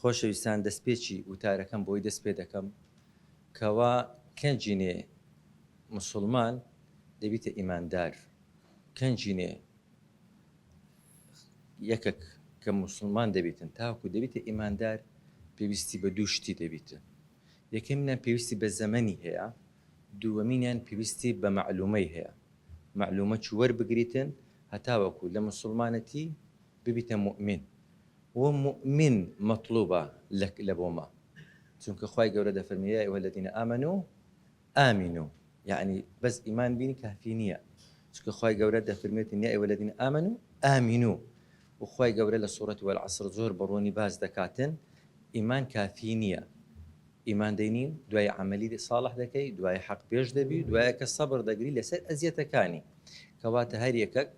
خۆشەویستان دەستپێکی وتارەکەم بۆی دەست پێ دەکەم کەوا کەنجینێ مسوڵمان دەبیتە ئیماندار کەنجینێ یەکەک کە مسوڵمان دەبیتن تاکو دەبیتە ئیماندار پێویستی بە دوو شتی دەبیتن یەکەمینان پێویستی بە زەمەنی هەیە دووەمینیان پێویستی بە مەعلومەی هەیە مەعلومە چوەر بگریتن هەتاوەکو لە مسوڵمانەتی ببیتە موئمین و موئمین مەتڵوبە لە لە بۆ مە چونکە خوای گەورە دەفەرموێ یا ایها الذین آمنوا آمنوا یەعنی بەس ئیمان بینی کافی نیە چونکە خوای گەورە دەفەرموێتن یا ایها الذین آمنوا آمنوا و خوای گەورە لە سورەتی والعصر زۆر بە ڕوونی باس دەکاتن ئیمان کافی نیە ئیمان دەینی دوای عەمەلی ساڵح دەکەی دوای حەق پێش دەبی دوایە کە سەبر دەگری لەسەر ئەزیەتەکانی کەواتە هەر یەکەک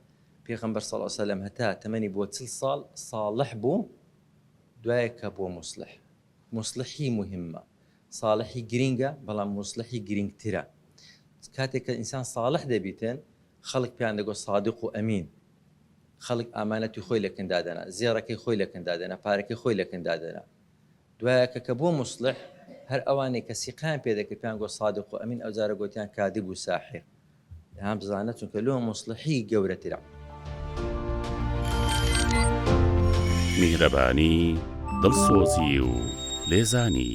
پێغەمبەر صلی اللە علیە وسلم هەتا تەمەنی بووە چل ساڵ صاڵح بوو دوای کە بووە موسڵح موسڵحی موهیمە صاڵحی گرینگە بەڵام موسڵحی گرینگترە کاتێک کە ئینسان صاڵح دەبیتن خەڵک پێیان دەگۆ صادق و ئەمین خەڵک ئامانەتی خۆی لەکن دادەنا زێڕەکەی خۆی لەکن دادەنا پارەکەی خۆی لەکن دادەنا دوایەکە کە بووە موسڵیح هەر ئەوانەی کە سیقەیان پێ دەکرد پێیان گۆت سادق و ئەمین ئەوجارە گۆتیان کادب و ساحیر دەیان بزانە چونکە لۆ موسڵیحی گەورەترە. میهرەبانی، دڵسۆزی و لێزانی.